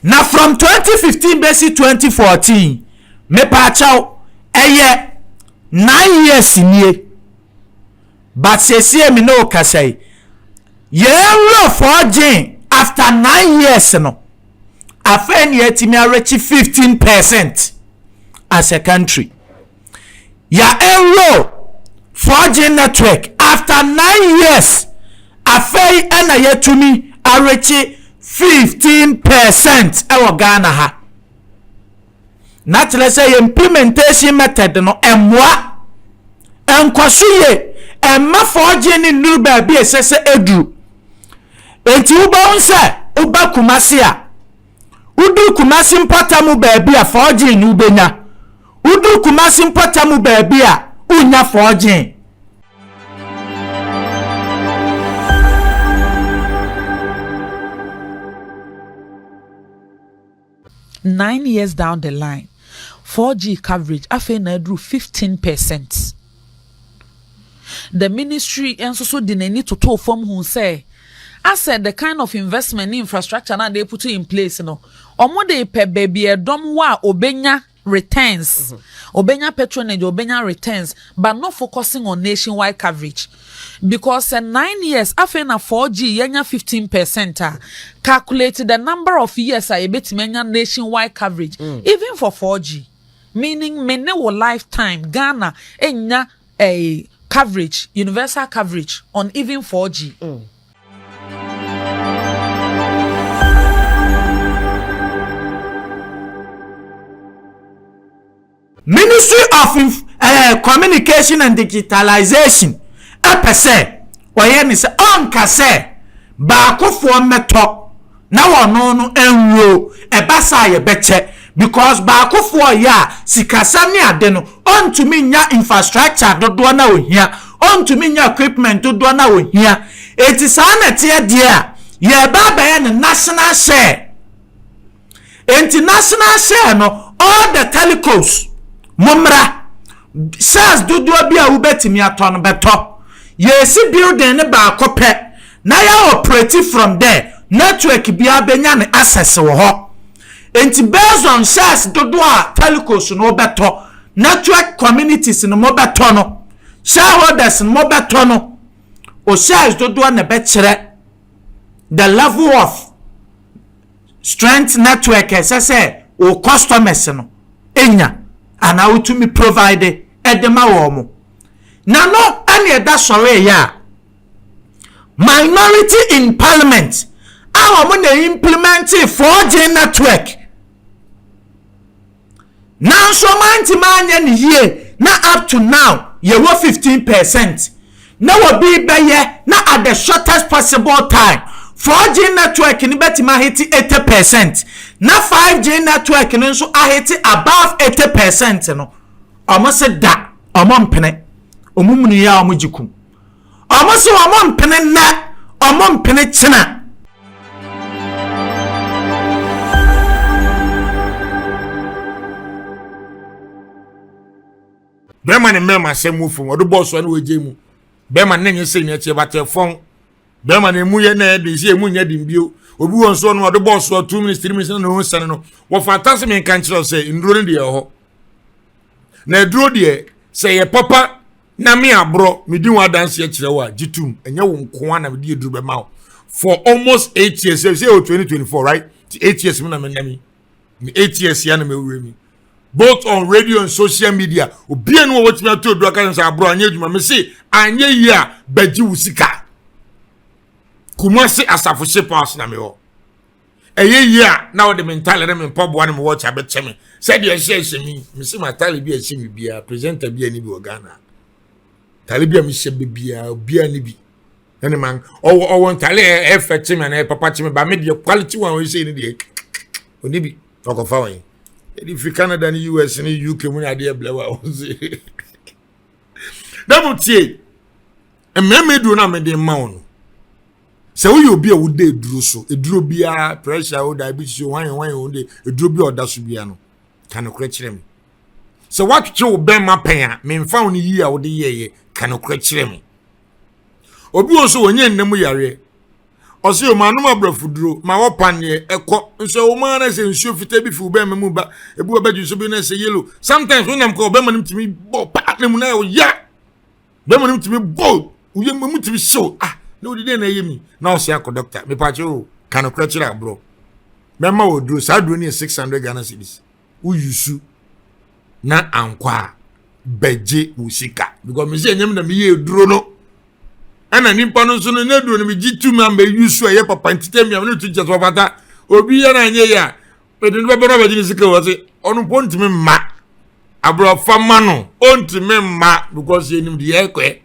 Na from twenty fifteen bɛsi twenty fourteen mepaakyɛw ɛyɛ nine years nie but sesie me ne wo kasa yi yɛn werɛfɔɔ gyee after nine years no afei na yɛatumi arekye fifteen percent as a country. yɛaenroll 4G network after nine years, afei na yɛatumi arekye fifteen percent wɔ Ghana ha. Na kyerɛ sɛ yɛn implementation method no mmoa, ɛnkɔ so yie, ɛmma 4G no nnuru baabi a ɛsɛ sɛ ɛduru. Enti wobɛhu sɛ woba Kumasi a, Wodur Kumasi mpɔtam baabi a, forging no wobɛnya. Wodur Kumasi mpɔtam baabi a, wonnya forging. Nine years down the line, 4G coverage afei na aduru fifteen percent. The ministry nso so de n'ani totoo fam hu sɛ asɛ the kind of investment ne infrastructure no a they put in place no, wɔn de pɛ baabi a ɛdɔm wɔ a obenya returns, mm-hmm. obenya patronage, obenya returns, but not focusing on nationwide coverage. Because sɛ nine years, afei na 4G yɛnya 15 percent a, calculate the number of years a yɛbɛtumi anya nationwide coverage, mm. even for 4G. Meaning me ne wo life time Ghana nnya eh coverage universal coverage on even 4G. Ministry of inf eh communication and digitalization pɛ sɛ ɔyɛ ne sɛ ɔnka sɛ baakofoɔ mmɛtɔ Na wɔno no ɛnwuro ɛba saa a yɛbɛkyɛ because baako foɔ ɔyɛ a sikasɛm ne ade no ɔntumi nnya infrastructure dodoɔ no a ɔhia ɔntumi nnya equipment dodoɔ no a ɔhia ɛnti saa na ɛteɛ deɛ a yɛreba abɛyɛ no national share ɛnti national share no all the telecos mo mmra shares dodoɔ bi a wobɛtumi atɔ no bɛtɔ yɛresi building no baako pɛ na yɛ operate from dɛ network biara benya no access wɔ hɔ ntsi based on shares dodoɔ a telcos no bɛtɔ network communities no mo bɛtɔ no shareholders no mo bɛtɔ no o shares dodoɔ na ɛbɛkyerɛ the level of strength network a ɛsɛ sɛ o customers no enya anaa wotumi provide de ma wɔn na no ɛna ɛda sɔre yɛ a. Minority in parliament a wɔn na implementee 4G network nanso wɔantumi anyɛ ne yie na up to now yɛwɔ 15 percent na wɔbi bɛyɛ na at the shortest possible time 4G network no bɛtumi ahete 80 percent na 5G network no nso ahete above 80 percent no wɔn se da wɔn mpene wɔn mmunuyɛ a wɔn gye kum. Ɔmo se ɔmo mpene nnɛ, ɔmo mpene kyena. Bɛrima ne mmarima asɛm mu fam ɔde bɔɔl so ne wɔgye mu bɛrima ne nyɛ sɛ nyɛ kyeɛ batɛ fɔn bɛrima ne mu yɛ na ɛde sɛ emu nyɛ den bio obi wɔn so no ɔde bɔɔl so two minutes three minutes na ne ho sɛne no wɔfa ata sɛ menka nkyerɛ sɛ nduro no deɛ ɛhɔ na aduro deɛ sɛ yɛ papa Na me aborɔ medi ho adanseɛ kyerɛ wo a gye tom ɛnyɛ wo nko ara na mede aduru bɛma wo for almost eight years sɛ sɛ wɔ 2024 right ti eight years mu na mena mi me eight years ya na mewura mi both on radio and social media obia no wɔ wɔtumi ato aduru aka sɛ aborɔ anyɛ adwuma me se anyɛ yie a bɛgye wo sika kumase asafo ship house na mewɔ Ɛyɛ yie a, na wode me ntale ne me mpɔboa ne me watch abɛkyɛ me sɛdeɛ ɛhyɛ ɛhyɛ mi. Mesi m'atale bi a ɛhyɛ me biara, presenter bi a ne bi wɔ Ghana. Tale bi a mehyɛ bɛ biara, biara ne bi. Ɛne man, ɔwɔ ɔwɔ ntale a ɛfɛ kye me anaa ɛpapa kye me, ba me deɛ quality one ɔhyɛ ne deɛ ɔne bi ɔkɔfa wɔn. Yɛde fi Canada ne US ne UK mu ne adeɛ blɛ wa wɔn se. Dɛm tie, mmɛmɛ duro na mede mma wɔn no. sɛ woyɛ obi a woda aduro so aduro biara pressure o diabetes o hwan hwan o de aduro bi a ɔda so biara no ka nokorɛ kyerɛ me sɛ woatwetwe wo bɛrima pɛn a memfa wo no yie a wode yɛɛyɛ ka nokorɛ kyerɛ me obi wɔ nso wɔnyɛ nna mu yareɛ ɔsɛ yɛ maanom aborɔfo duro ma wɔpaneɛ ɛkɔ nso ɛwɔ mu ara sɛ nsuo fitaa bi fi wo bɛrima mu ba ebi wɔ bɛdwe so bi na ɛsɛ yellow sometimes wonam kɔ ɔbɛrima no tumi bɔ paa na mu na ɛyɛ bɛrima no tumi bɔ wo yam mu tumi hyew ah na wode dɛn na ɛyɛ mi na ɔsɛ akɔ dɔkta mepaakyɛ o oh, ka no korɛ kyerɛ aborɔ mɛma wɔ duro saa duro no yɛ 600 ghana cedis woyi su na ankɔ a bɛgye wo sika because mesɛ ɛnyɛm na meyɛ duro no ɛna nipa no nso no na duro no megye tu ma mɛyi su a ɛyɛ papa ntitɛ mmea no to kyɛ sɛ ɔfata obi yɛ no anyɛ yɛ a mede no bɛbɔ no abɛgye ne sika wɔ se ɔno mpo ntumi mma aborɔfa ma no ɔntumi mma because yɛnim deɛ ɛkɔɛ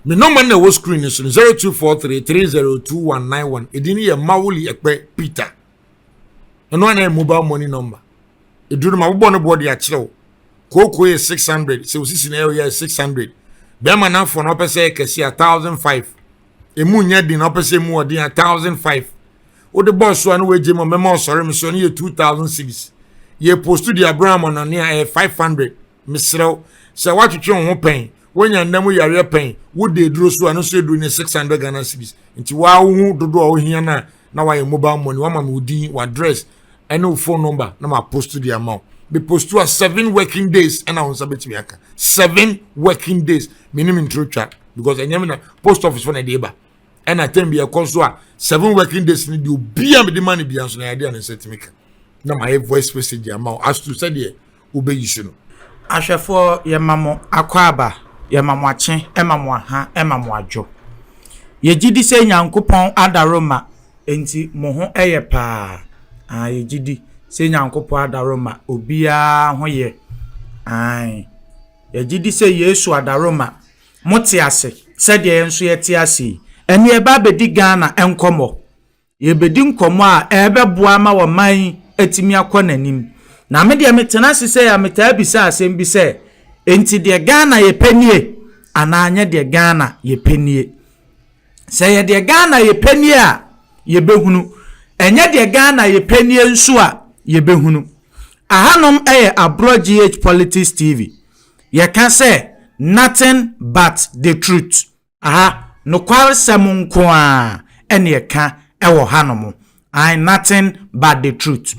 me nɔma na ɛwɔ screen so no 0243 302191 ɛdin no yɛ mawoli ɛkpɛ peter ɛno ana yɛ mobile money number ɛduru no ma wobɔ no boɔ de akyerɛ wo kooko yɛ 600 sɛ wosisi na ɛyɛ 600 bɛrima no afoɔ no ɔpɛ sɛ yɛ kɛse a 1005 emu nyɛ den na ɔpɛ sɛ emu ɔden a thousand five wode bɔɔ so a na wagye mu mɛma ɔsɔre me so no yɛ two thousand series yɛ post de abira ama no ne a ɛyɛ five hundred mesrɛw sɛ woatwetwe wo ho pɛn wonya nna mu yareɛ pɛn wode aduro so a no nso aduro ne six hundred ghana series nti waa wohu dodoɔ a wohia no a na wayɛ mobile money wama me wo din w'address ɛne wo phone number na ma post de ama wo me post a seven working days ɛna wo nsa bɛtumi aka seven working days menim ntoro twa because ɛnyɛ me na post office fo na ɛde ba ɛna tɛm bi ɛkɔ so a seven working days ne deɛ obi a mede ma no bia nso na yɛade a ne nsa tumi ka na ma yɛ voice message ama wo as to sɛdeɛ wobeyisi no. Ahwɛfoɔ, Yɛma mo akwaaba, Yɛma mo akye, ɛma mo aha, ɛma mo adwo. Yɛgye di sɛ Nyankopɔn adaro mma, enti mo ho yɛ paa. Aane, yɛgye di sɛ Nyankopɔn adaro mma, obiara ho yɛ. Aane, yɛgye di sɛ Yesu adaro mma. Mote ase sɛdeɛ yɛn nso yɛte ase yi? Ɛnneɛ ɛba abɛdi Ghana nkɔmmɔ. Yɛbɛdi nkɔmmɔ a ɛbɛboa ama ɔman yi atumi akɔ n'anim. Na me deɛ metena ase sɛ a metaa bisa asɛm bi sɛ, enti deɛ Ghana yɛpɛ nie anaa nyɛ deɛ Ghana yɛpɛ nie? Sɛ yɛ deɛ Ghana yɛpɛ nie a, yɛbɛhunu. Ɛnyɛ deɛ Ghana yɛpɛ nie nso a, yɛbɛhunu. Ahanom yɛ Aborɔ GH Politics TV. Yɛka sɛ nothing but the truth. Aha, nokwaresɛm nko ara na ɛka wɔ hanom. Ae, nothing but the truth.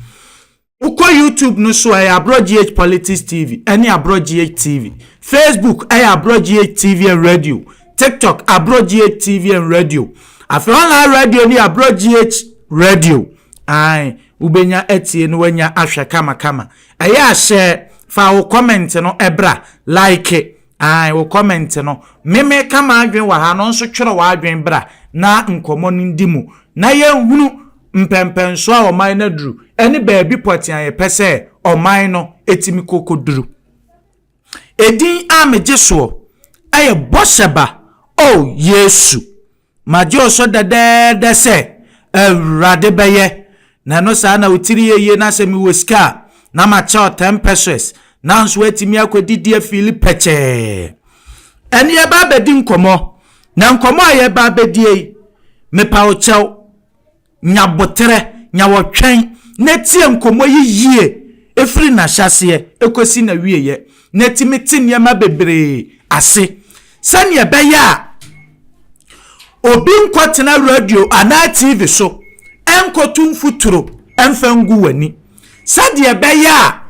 Wokɔ YouTube no so a, ɛyɛ Aborɔ GH Politics TV ne Aborɔ GH TV. Facebook yɛ Aborɔ GH TV and Radio. TikTok, Aborɔ GH TV and Radio. Afei online radio ne Aborɔ GH Radio. Ae, wobɛnya atie na woanya ahwɛ kamakama. Ɛyɛ ahyɛ fa wo comment no ɛbra, like, Ae wo comment no me meka m'adwen wɔ ha no nso twerɛ w'adwen bra na nkɔmmɔ no ndi mu na yɛnhunu mpɛnpɛnsoɔ a ɔman no aduru ɛne baabi pɔtee a yɛpɛ sɛ ɔman no ɛtumi kɔ kɔduru. Ɛdin a megye soɔ ɛyɛ Bɔhyɛba oh Yesu. Magye wo so dɛdɛɛdɛ sɛ Awurade bɛyɛ, na ɛno saa na wo tiri yɛ yie, na sɛ mewɔ sika a, na makyɛ wo ten pesewas, nanso woatumi akɔdidi afiili pɛkyɛɛ. Ɛnne yɛba abɛdi nkɔmmɔ, na nkɔmmɔ a yɛba abɛdie yi, mepa wo kyɛw. nya boterɛ, nya ɔtwɛn, na tie nkɔmmɔ yi yie firi n'ahyɛaseɛ kɔsi n'awieeɛ, na tumi te nneɛma bebree ase sɛdeɛ ɛbɛyɛ a obi nkɔtena radio anaa TV so nkɔtu mfuturo mfa ngu w'ani, sɛdeɛ ɛbɛyɛ a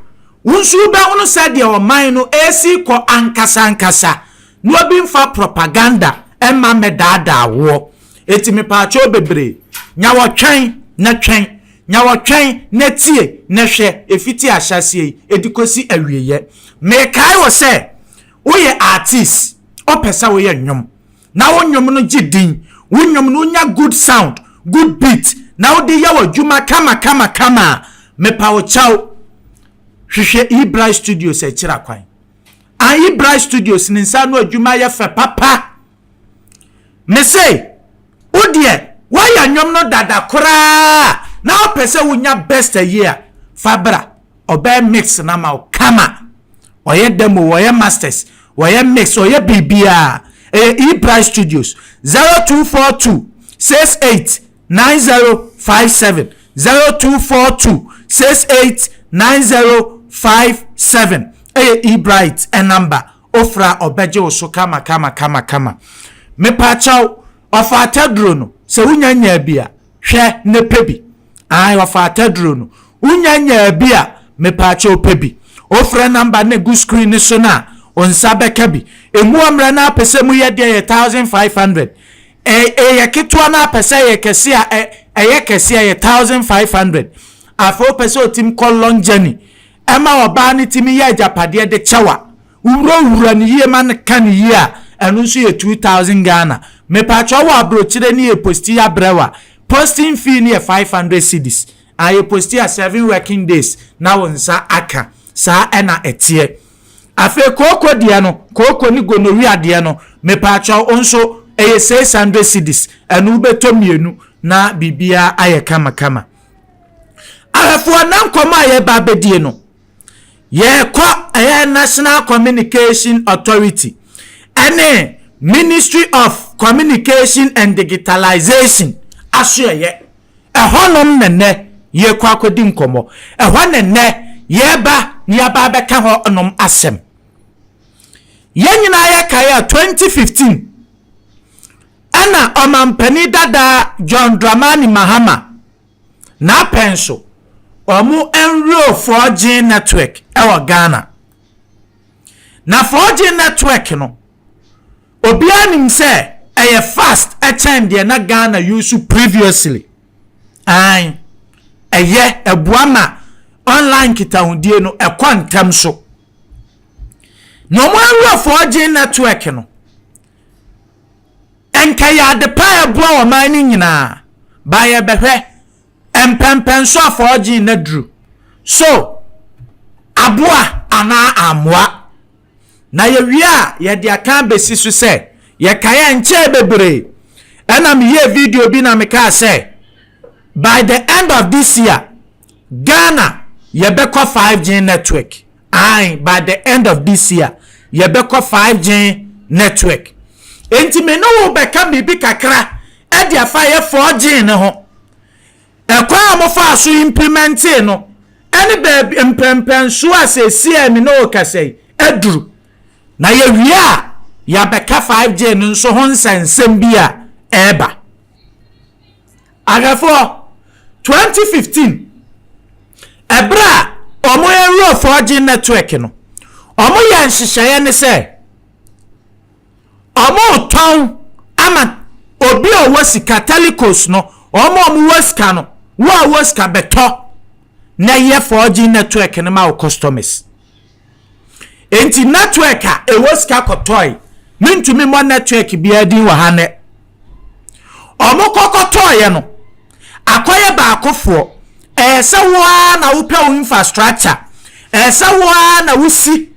wo nso wobɛhunu sɛdeɛ ɔman no resi rekɔ ankasankasa. Na obi nfa propaganda mma mmɛdaadaa woɔ. Enti mepaakyɛw bebree, nya ɔtwɛn na twɛn, nya ɔtwɛn na tie na hwɛ ɛfiti ahyɛaseɛ yi ɛde kɔsi awieɛ. Mekae wo sɛ, woyɛ artist, wopɛ sɛ woyɛ nnwom, na wo nnwom no gye din, wo nnwom no wonya good sound, good beat, na wode yɛ w'adwuma kama kama kama a, mepawokyɛw, hwehwɛ E-Bright Studios akyiri akwan. Ayi Bright Studios ne nsa ano adwuma yɛ fɛ papa. Me se, wo deɛ, woayɛ nnwom no dada koraa na wopɛ sɛ wonya best ayi a, fa bra. Ɔbɛyɛ mix no ama wo kama. Ɔyɛ demo, ɔyɛ masters, ɔyɛ mix, ɔyɛ biribiara. Ɛyɛ E-Bright Studios, 0242 68 nine zero five seven zero two four two six eight nine zero five seven ɛyɛ ebright ɛnamba ofra ɔbɛgye wo so kama kama kama kama mepaakyɛw ɔfa ataduro no sɛ wonya nyaa bi a hwɛ ne pɛ bi ae ɔfa ataduro no wonya nyaa bi a mepaakyɛw pɛ bi ofra namba ne gu screen ne so no a onsa bɛka bi emu amrɛ no apɛ sɛ mu yɛ deɛ yɛ thousand five hundred Ɛ yɛ ketewa na apɛ sɛ ɛyɛ kɛse a, ɛ ɛyɛ kɛse ɛyɛ thousand five hundred. Afei wopɛ sɛ ɔtim kɔ long journey ɛma ɔbaa no tumi yɛ agyapadeɛ de kyɛw a, wowurawura no yie ma no ka no yie a, ɛno nso yɛ two thousand Ghana. Mepakyɛ wowɔ abrokyire ne yɛ posti abrɛ wo a, posting fee no yɛ five hundred cedis. Aa yɛ posti a seven working days na wo nsa aka. Saa ɛna ɛteɛ. Afei kooko deɛ no, kooko ne gonorrhea deɛ no, mepaakyɛw nso, ɛyɛ six hundred cedis, ɛno wobɛtɔ mmienu na biribiara ayɛ kamakama. Ahwɛfoɔ na nkɔmmɔ a yɛreba abɛdie no, yɛrekɔ ɛyɛ National Communication Authority ɛne Ministry of Communication and Digitalization asoɛeɛ. Ɛhɔnom na nnɛ yɛrekɔ akɔdi nkɔmmɔ. Ɛhɔ na nnɛ yɛreba na yɛaba abɛka hɔnom asɛm. Yɛn nyinaa yɛkae a 2015 ɛna ɔmampanin dada John Dramani Mahama n'apɛn so wɔn nwuro 4G network wɔ Ghana. Na 4G network no, Obiara nim sɛ ɛyɛ fast kyɛn deɛ na Ghana use previously. Ae, ɛyɛ, ɛboa ma online nkitahodie no ɛkɔ ntɛm so. Na wɔn awura 4G network no, nka yɛ ade pa a ɛboa ɔman no nyinaa, ba yɛbɛhwɛ, mpɛmpɛn so a 4G no aduru. So, aboa anaa ammoa? na yɛwie a yɛde aka abɛsi so sɛ yɛkae a nkyɛɛ bebree ɛna meyɛɛ video bi na mekaa sɛ by the end of this year Ghana yɛbɛkɔ 5G network ae by the end of this year yɛbɛkɔ 5G network enti me ne wo bɛka biribi kakra ɛde afa yɛ 4G ne ho Kwan a wɔfaa so implimentee no ne baabi mpɛnpɛnsoɔ a seesei a me ne wo rekasa yi aduru. Na yɛwie a, yɛabɛka 5G no nso ho nsɛnsɛm bi a ɛreba. Ahwɛfoɔ, 2015, ɛberɛ a wɔrewura 4G network no, wɔyɛɛ nhyehyɛeɛ ne sɛ, wɔretɔn ama obi a ɔwɔ sika telecos no wɔn a wɔwɔ sika no wo a wɔ sika bɛtɔ na yɛ 4G network no ma wo customers nti network a ɛwɔ sika kɔtɔe mentumi mmɔ network biara din wɔ ha nɛ wɔn kɔkɔtɔeɛ no akɔyɛ baakofoɔ ɛyɛ sɛ wo ara na wopɛ wo infrastructure ɛyɛ sɛ wo ara na wosi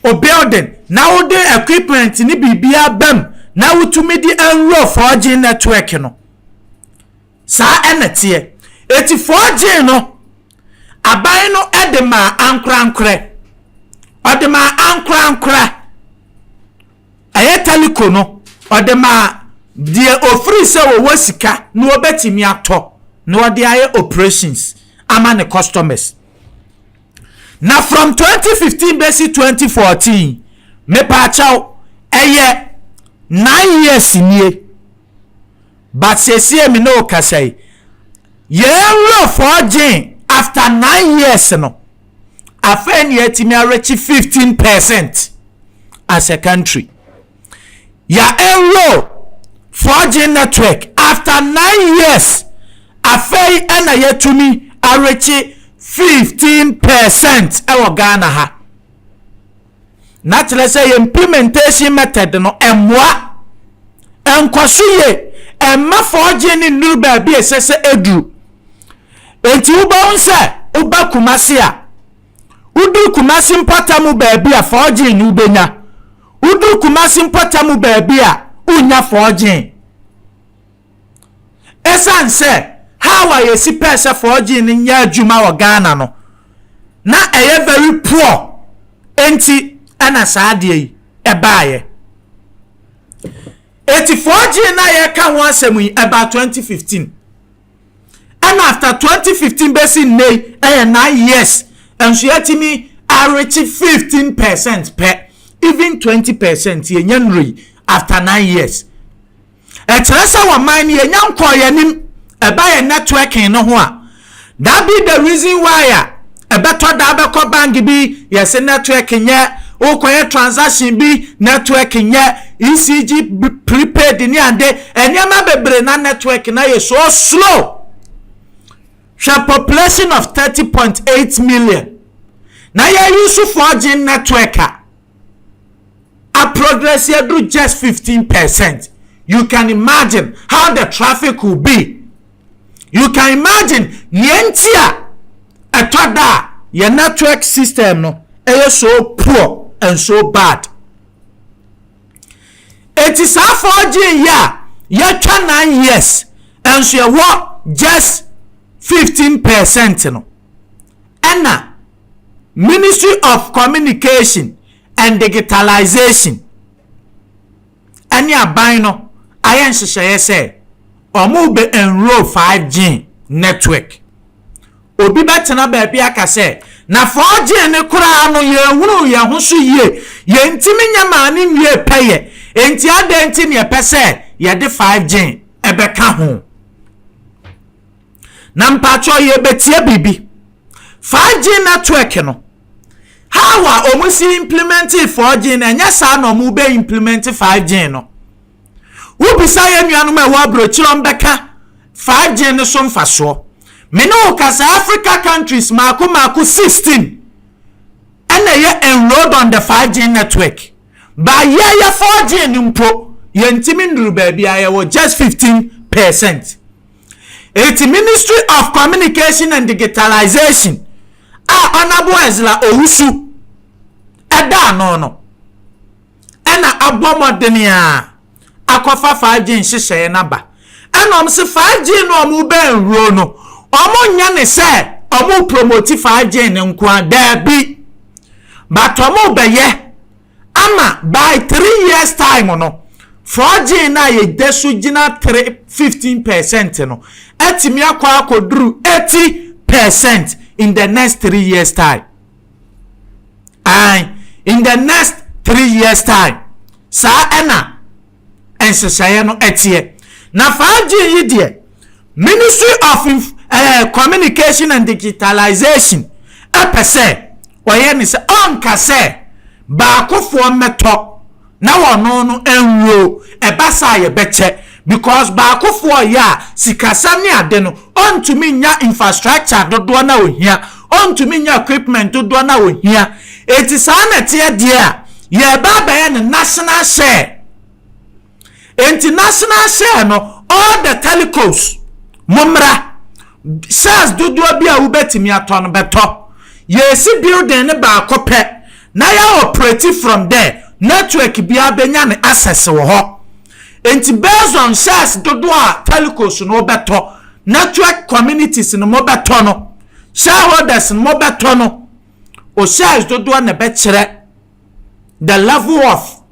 obuilding na wode equipment ne biribiara bam na wotumi de enroll 4G network no. Saa ɛna teɛ. Eti 4G no, aban no de maa ankorankorɛ. Ɔde maa ankorankora. Ɛyɛ telecom no, ɔde maa deɛ ofiri sɛ wɔwɔ sika na wɔbɛtumi atɔ na wɔde ayɛ operations ama ne customers. Na from twenty fifteen bɛsi twenty fourteen mepaakyɛw ɛyɛ nine years nie but sesie me ne okasa yi yɛn nwurɔfoɔ gyen after nine years no afei ne yɛatumi arekye fifteen percent as a country. yɛaenroll 4G network after nine years, afei na yɛatumi arekye fifteen percent wɔ Ghana ha. Na kyerɛ sɛ yɛn implementation method no mmoa, ɛnkɔ so yie, ɛmma 4G no nnuru baabi a ɛsɛ sɛ ɛduru. Enti wobɛhu sɛ woba Kumasi a, Wodur Kumasi mpɔtam baabi a, forging no wobɛnya. Wodur Kumasi mpɔtam baabi a, wonnya forging. Ɛsiane sɛ how a yɛsi pɛɛ sɛ forging no nyɛ adwuma wɔ Ghana no, na ɛyɛ very poor enti ɛna saa adeɛ yi ɛbaeɛ. Eti forging no a yɛka ho asɛm yi, about 2015. ɛna after twenty fifteen bɛsi nnɛ yi ɛyɛ nine years nso yɛatumi arekye fifteen percent pɛ even twenty percent yɛnya nnuro yi after nine years ɛkyerɛ sɛ wɔ man no yɛnya nkɔɔ yɛn anim ɛba yɛn networking no ho a that be the reason why a. Ɛbɛtɔ da bɛkɔ bank bi yɛse network nyɛ, wokɔyɛ transaction bi network nyɛ, ECG prepaid ne ade nneɛma bebree na network na yɛ so slow. Hwɛ population of thirty point eight million na yɛ use 4G network a a progress yɛ duru just fifteen percent you can imagine how the traffic will be you can imagine nea nti a ɛtɔ da a yɛn network system no ɛyɛ so poor and so bad eti saa 4G yi a yɛtwa nine years nso ɛwɔ just fifteen percent no ɛna. Ministry of Communication and Digitalization ne aban no ayɛ nhyehyɛeɛ sɛ wɔbɛ enroll 5G network. Obi bɛtena baabi aka sɛ, na 4G no koraa no yɛnhunuu yɛn ho so yie, yɛntumi nyɛ maa no nwie pɛyɛ, enti adɛn nti na yɛpɛ sɛ yɛde 5G bɛka ho? Na mpakyɛw yɛbɛtie biribi. 5G network no, how a wɔn si implementee 4G no, ɛnyɛ saa na wɔn bɛ implement 5G no. Wobisa yɛn nuanom a ɛwɔ aburokyire wɔn bɛka 5G no so mfasoɔ. Me ne wo kasa Africa countries maako maako 16 ɛna ɛyɛ enrolled on the 5G network. Ba yɛyɛ 4G no mpo, yɛntumi nnuru baabi a yɛwɔ just 15 percent. Enti Ministry of Communication and Digitalization a Honourable Ezra Owusu da ano no na abɔ mmɔden a akɔfa 5G nhyehyɛeɛ no aba. Ɛna wɔn se 5G no wɔn bɛnwuro no, wɔn nyɛ ne sɛ wɔn promote 5G no nko a, daabi. But wɔn bɛyɛ Ama by three years time no, forging no a yɛda so gyina three, fifteen percent no atumi akɔ akɔduru eighty percent in the next three years time. Ae, in the next three years time. Saa ɛna nhyehyɛeɛ no teɛ. Na 5G yi deɛ, Ministry of Inf eh, Communication and Digitalization pɛ sɛ ɔyɛ ne sɛ ɔnka sɛ baakofoɔ mmɛtɔ na wɔno no nwuo, ɛba saa a yɛbɛkyɛ because baakofoɔ yɛ a sikasɛm ne ade no ɔntumi nya infrastructure dodoɔ no a ɔhia, ɔntumi nya equipment dodoɔ no a ɔhia. Enti saa na ɛteɛ deɛ a, yɛreba abɛyɛ no national share. Enti national share no, all the telecos, mommra. Shares dodoɔ bi a wobɛtumi atɔ no, bɛtɔ. Yɛresi building no baako pɛ, na yɛa operate from there. Network biara bɛnya ne access wɔ hɔ. Enti based on shares dodoɔ a telecos no wobɛtɔ, network communities no mobɛtɔ no, shareholders no mobɛtɔ no, wo cells dodoɔ na ɛbɛkyerɛ the level of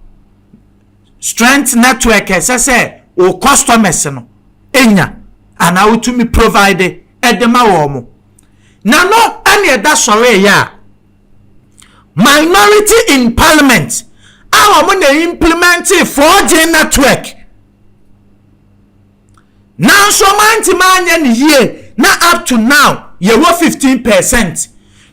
strength network ɛsɛ sɛ wo customers no nya anaa wotumi provide ɛde ma wɔn mo na no ɛne ɛda sɔre yɛ a minority in parliament a wɔn na implementing 4G network nanso wɔantumi anyɛ no yie na up to now yɛwɔ fifteen percent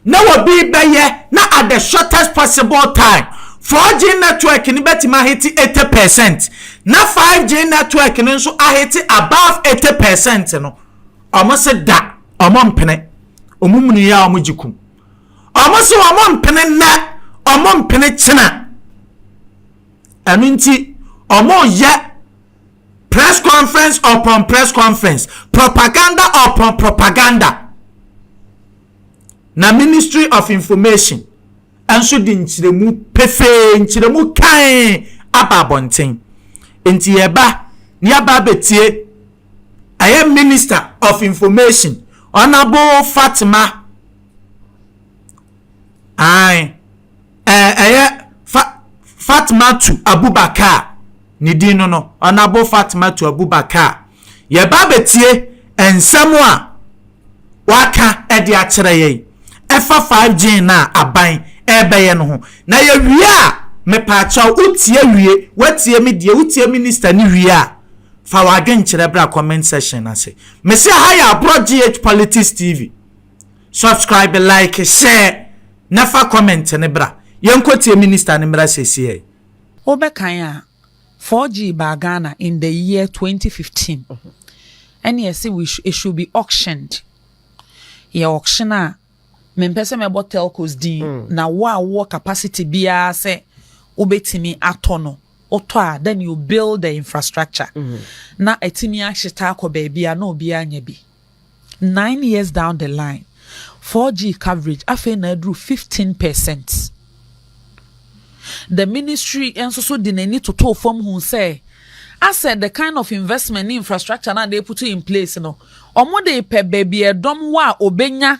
na wɔbi bɛyɛ na at the shortest possible time four G network no bɛtumi ahete eighty percent na five G network no nso ahete above eighty percent no wɔn se da wɔn mpene wɔn munu yɛ a wɔn gye kum wɔn se wɔn mpene nnɛ wɔn mpene kyena ɛno nti wɔn yɛ. Press conference upon press conference, propaganda upon propaganda. Na Ministry of Information nso de nkyerɛmu pefee, nkyerɛmu kan aba abɔnten. Nti yɛba ne yɛaba abɛtie ɛyɛ Minister of Information, Honourable Fatima. Aye. Ɛyɛ Fa, Fatmatu Abubakar ne din no no, Honourable Fatmatu Abubakar. Yɛreba abɛtie nsɛm a waka de akyerɛ yɛn ɛfa 5G no a aban ɛrebɛyɛ no ho. Na yɛwie a, mepaakyɛw wotie wie, woatie me deɛ, wotie Minister no wie a, fa w'adwenkyerɛ bra comment section no ase. Mese aha yɛ Aborɔ GH Politics TV. Subscribe like share na fa comment no bra yɛnkɔ tie minister no mmra sesiei. Wo bɛ kan a, 4G baa Ghana in the year twenty fifteen. Ɛne ɛse we it should be auctioned. Yɛ auction a, me mpɛ sɛ mɛbɔ telcos din, na wo a wowɔ capacity biara sɛ wo bɛ tumi atɔ no, wo tɔ a, then you build the infrastructure. Na atumi ahyeta akɔ baabi a na obiara nya bi. Nine years down the line, 4G coverage afei na aduru 15 percent. The ministry nso so de n'ani totoo fam hu sɛ asɛ the kind of investment ne infrastructure na they put in place no, wɔn de pɛ baabi ɛdɔm wɔ a obenya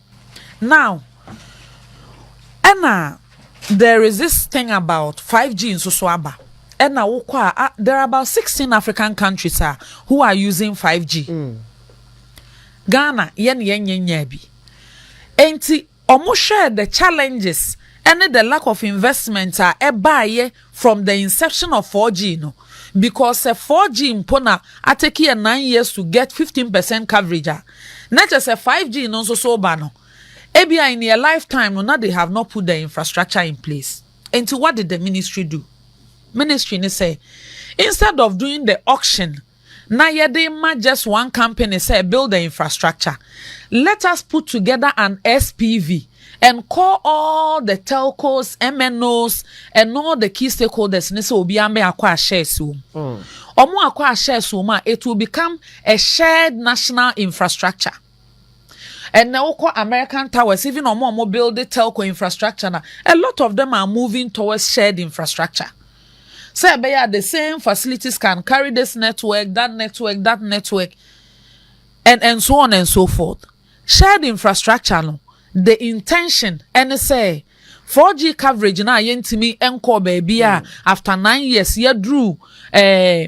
Now ɛna there is this thing about 5G nso so aba. Ɛna wokɔ a, ah, there are about 16 African countries a who are using 5G. Mm. Ghana, yɛn yɛn nyɛ nyaa bi. Enti, wɔn hwɛ the challenges ɛne the lack of investment a ɛbaayɛ from the inception of 4G no because sɛ 4G mpo na atake yɛ nine years to get fifteen percent coverage a, na kyerɛ sɛ 5G no nso so reba no, ebia in their lifetime no na they have not put the infrastructure in place. Nti what did the ministry do? Ministry no sɛ, instead of doing the auction na yɛde ma just one company sɛ build the infrastructure let us put together an SPV and call all the telcos MNOs and all the key stakeholders ne sɛ obiara mmɛ akɔ ahyɛs wɔm wɔn akɔ ahyɛs wɔm a it will become a shared national infrastructure. Ɛnnɛ wokɔ American towers, even ɔmo a ɔmo build telco infrastructure no a, a lot of them are moving towards shared infrastructure. Sɛ ɛbɛyɛ a the same facilities can carry this network, that network, that network, and, and so on and so forth. Shared infrastructure no, the intention ɛne sɛ 4G coverage no a yɛntumi nkɔɔ baabi a mm. after nine years yɛduru ɛɛ. Eh,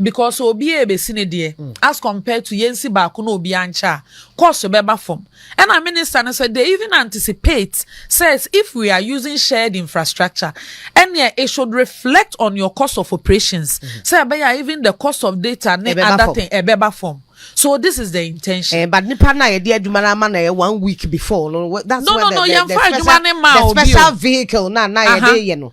Because obi a ebesi ne deɛ as compared to yɛnsi baako na obi ankyɛ a, cost bɛba fam. Ɛna Minister no sɛ they even anticipate says if we are using shared infrastructure ɛneɛ it should reflect on your cost of operations sɛ ɛbɛyɛ a even the cost of data ne other thing ɛbɛba fam. So this is the intention. Eh, but nipa na yɛde adwuma na ama na yɛ one week before no. That's no, no, no, the, the, the, special, the special vehicle na na yɛde yɛ no.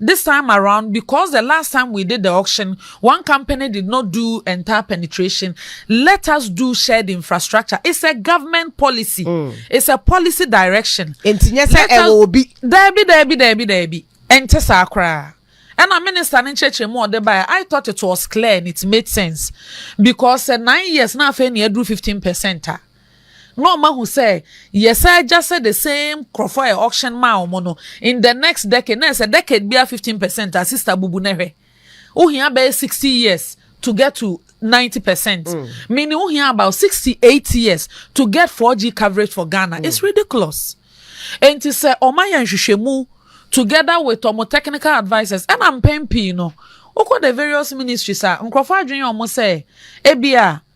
This time around because the last time we did the auction one company did not do entire penetration let us do shared infrastructure it's a government policy mm. it's a policy direction. nti nyɛ sɛ ɛwɔ obi. daabi daabi daabi daabi ɛnte saa koraa. And a minister ne nkyerɛkyerɛ mu ɔde baeɛ i thought it was clear and it made sense because sɛ nine years na afei na ɛduru fifteen percent a. na ɔma hu sɛ yɛsan gya sɛ the same nkurɔfoɔ a yɛ auction maa wɔn no in the next decade na ɛsɛ decade biara fifteen percent a sista bubu na hwɛ ohia bɛyɛ sixty years to get to ninety percent mm. meaning ohia about sixty eight years to get four G coverage for Ghana mm. it's ridiculous nti sɛ ɔma yɛ nhwehwɛmu together with ɔmo technical advisers ɛna mpɛn pii no wokɔ the various ministries a nkurɔfoɔ adwene wɔn sɛ ebi a.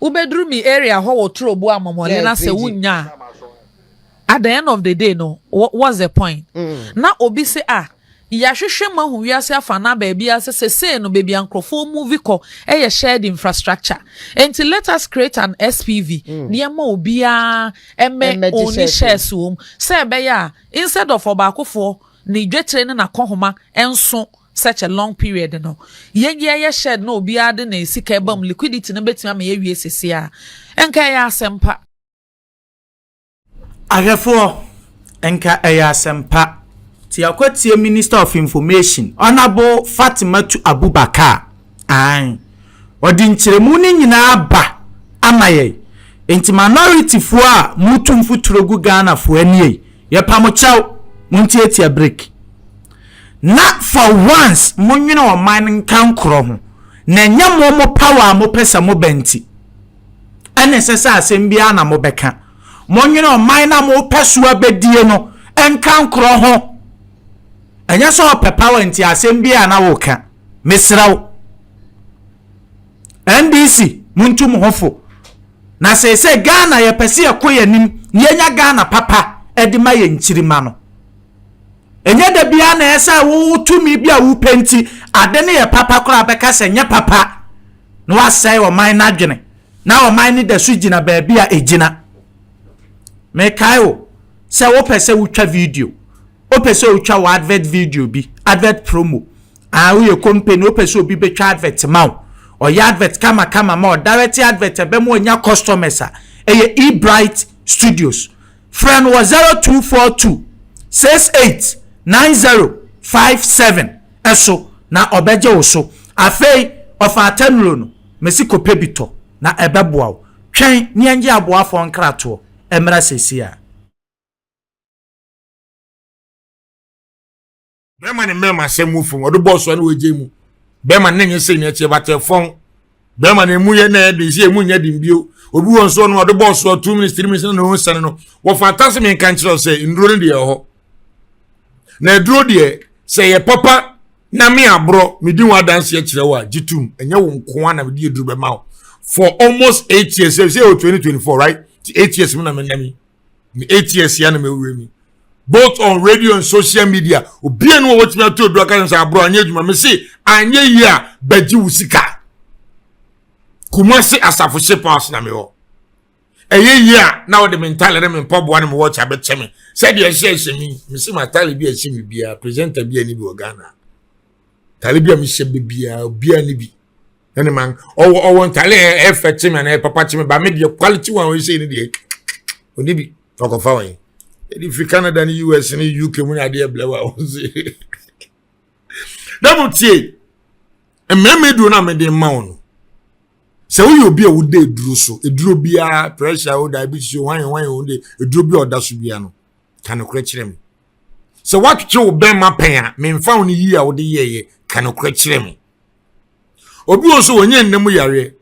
Wobɛduru me area hɔ wɔ turo boa mɔmɔ le na sɛ wonnya a at the end of the day no what's the point? Mm. Na obi se a ah, yɛahwehwɛ ma hu wiase afa na baabi a sɛ sesei no baabi a nkurɔfoɔ muvi kɔ yɛ shared infrastructure nti let us create an SPV mm. ne ɛma obiara ɛmɛ ɔni shares wɔ mu sɛ ɛbɛyɛ a instead of ɔbaakofoɔ ne dwetire ne n'akɔhoma nso such a long period no, yɛnye ɛyɛ shared na obiara de ne sika ɛba mu, liquidity no bɛtumi ama yɛawie sese a, nka ɛyɛ asɛmpa. Ahwɛfoɔ, nka ɛyɛ asɛmpa. Nti yɛakɔtie Minister of Information, Honourable Fatimatu Abubakar. Ae. Ɔde nkyerɛmu no nyinaa ba ama yɛn. Enti manɔritifoɔ a moretu mfuturo gu Ghanafoɔ anie yi, yɛpa mo kyɛw, montiatia break. Na for once monwene ɔman no nkankorɔ ho, na ɛnyɛ mo mo power a mopɛ sɛ moba nti ɛna ɛsɛ sɛ asɛm biara na mobɛka. Monwene ɔman no a mopɛ so abɛdie no nkankorɔ ho. Ɛnyɛ sɛ ɔpɛ power nti asɛm biara na woka. mesrɛ wo ndc montu mo ho fo na seesei ghana yɛpɛ sɛ yɛkɔ yɛn anim na yɛnya ghana papa de ma yɛn nkyirimma no ɛnyɛ da biara na ɛyɛ sɛ wo tumi bi a wopɛ nti ade no yɛ papa koraa bɛka sɛ nyɛ papa na wasɛe ɔman no adwene na ɔman no da so gyina baabi a ɛgyina mekae wo sɛ wopɛ sɛ wotwa video Wopɛ sɛ wotwa wo advert video bi, advert promo, anaa woyɛ company wopɛ sɛ obi bɛtwa advert ma wo, ɔyɛ advert kama kama ma wo, direct advert a ɛbɛma wanya customers a, ɛyɛ eBright Studios. Frɛ no wɔ 0242 68 9057 ɛso na ɔbɛgye wo so. Afei, ɔfa atanuro no, mesi kɔpɛ bi tɔ na ɛbɛboa wo. Twɛn ne yɛngye aboafoɔ nkratoɔ ɛmmra seesei ara. bɛrima ne mmarima asɛm mu fam ɔde bɔɔl so na wɔagye mu bɛrima ne nyɛ sɛ nyɛ kyɛ batɛ fam bɛrima ne mu yɛ na ɛde sɛ emu nyɛ den bio obi wɔn so no ɔde bɔɔl so two minutes three minutes na wɔn sɛn no wɔfa atase mi nka nkyerɛ sɛ nnuro no deɛ ɛhɔ na aduro deɛ sɛ yɛ papa na me aborɔ medi wɔn adanseɛ kyerɛ wɔ a gye tum ɛnyɛ wɔn nkoa na mede aduro bɛma wo for almost eight years sɛ sɛ yɛ wɔ twenty twenty four right eight years mu na menam yi. me eight years ya na me wura mi both on radio and social media obi enu wɔn wɔtumi ato edu aka sɛ aburo anya adwuma me se anya yie a bɛgye wo sika kumase asafo hyɛ pass na me hɔ ɛyɛ yie a na wɔde me ntaale ne me mpaboa ne me wɔkye abɛkyɛ me sɛdeɛ ɛhyɛ ɛhyɛ mi me se ma taale bi a ɛhyɛ mi biara presenter bi a ne bi wɔ ghana taale bi a me hyɛ bi biara biara ne bi ɛne man ɔwɔ ɔwɔ ntale ɛ ɛfɛ kye mi anaa ɛ papa kye mi ba mi deɛ quality one ɔyɛ sɛ ne deɛ ɔni bi ɔkɔfa wɔn ɛdi fi canada ne us ne uk mu ne adeɛ blɛ wa wɔn se dɛm tie mmarima duro na mede ma wɔn no sɛ woyɛ obi a woda eduro so eduro biara pressure o diabetes o hwan hwan o de eduro bi a ɔda so biara no ka no korɛ kyerɛ mi sɛ watwitwe wo bɛn ma pɛn a mɛnfa wɔn yiyi a wɔde yɛɛyɛ ka no korɛ kyerɛ mi. obi wɔ nso wɔnyɛ nna mu yareɛ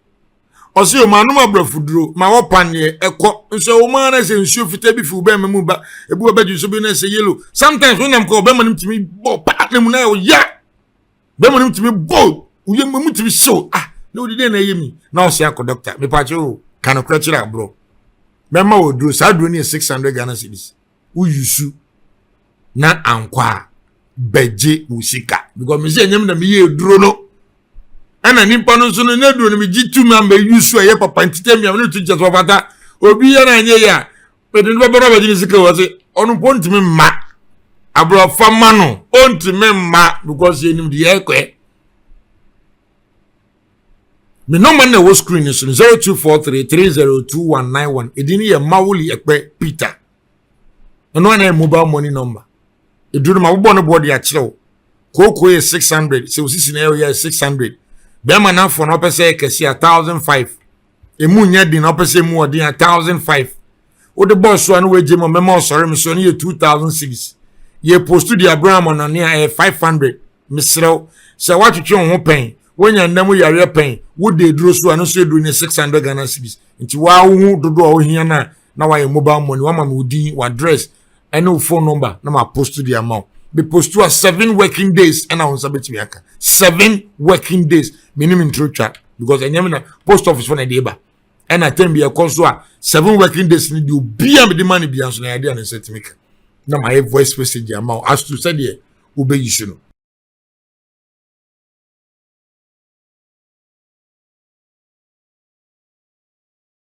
ɔsɛ yɛ ɔmanom aborɔfo duro ma wɔpaneɛ ɛkɔ nso wɔn ara sɛ nsuo fitaa bi fi ɔbɛma mu ba ebi wɔ bɛdwe nso bi na ɛsɛ yellow sometimes wonam kɔ ɔbɛma no tumi bɔ paa na mu na ɔya bɛma no tumi bɔ woyɛ mu tumi hyew ah na wodi dɛn na ɛyɛ mi na ɔsɛ akɔ dɔkta mepakyɛ o ka nokorɛ kyerɛ aborɔ mɛma wɔ duro saa duro no yɛ six hundred ghana cedis wo yusu na ankɔ a bɛgye wo sika because me sɛ ɛnyɛ me na meyɛ aduro no ɛna nipa no nso no na aduro no megye tu ma mɛyusu ɛyɛ papa ntita mmea no tu kyɛ sɛ ɔfata obi yɛ no anyɛ yɛ a mede no bɛbɛrɛ bɛgye ne sika wɔ se ɔno mpo ntumi mma aborɔfa ma no ɔntumi mma because yɛnim deɛ ɛkɔɛ me nɔma na ɛwɔ screen no so no 0243302191 ɛdin yɛ mawoli ɛkpɛ peter ɛno ana yɛ mobile money number ɛduru no ma wobɔ no boɔ de akyerɛ wo kooko yɛ 600 sɛ wosisi na ɛyɛ 600 bɛrima no afoɔ no wopɛ sɛ yɛ kɛse a 1005 emu nyɛ den ɔpɛ sɛ emu ɔden a thousand five wode bɔɔ so a na wagye mu mɛma ɔsɔre me so no yɛ two thousand series yɛ post de abrɛ amɔnane a ɛyɛ five hundred meserɛw sɛ woatwetwe wo ho pɛn woanya nna mu yareɛ pɛn wode aduro so a no nso aduro no yɛ six hundred ghana series nti waa wo ho dodoɔ a wohia no a na wayɛ mobile money wama me wo din w'address ɛne wo phone number na ma post de ama wo me post a seven working days ɛna wo nsa bɛtumi aka seven working days menim ntoro twa because ɛnyɛ me na post office fo na ɛde ba ɛna tɛm bi ɛkɔ so a seven working days ni deɛ obia mede ma no bia nso na yɛde a ne nsa tumi ka na ma ayɛ voice message ama wo as to sɛdeɛ wobɛyi so no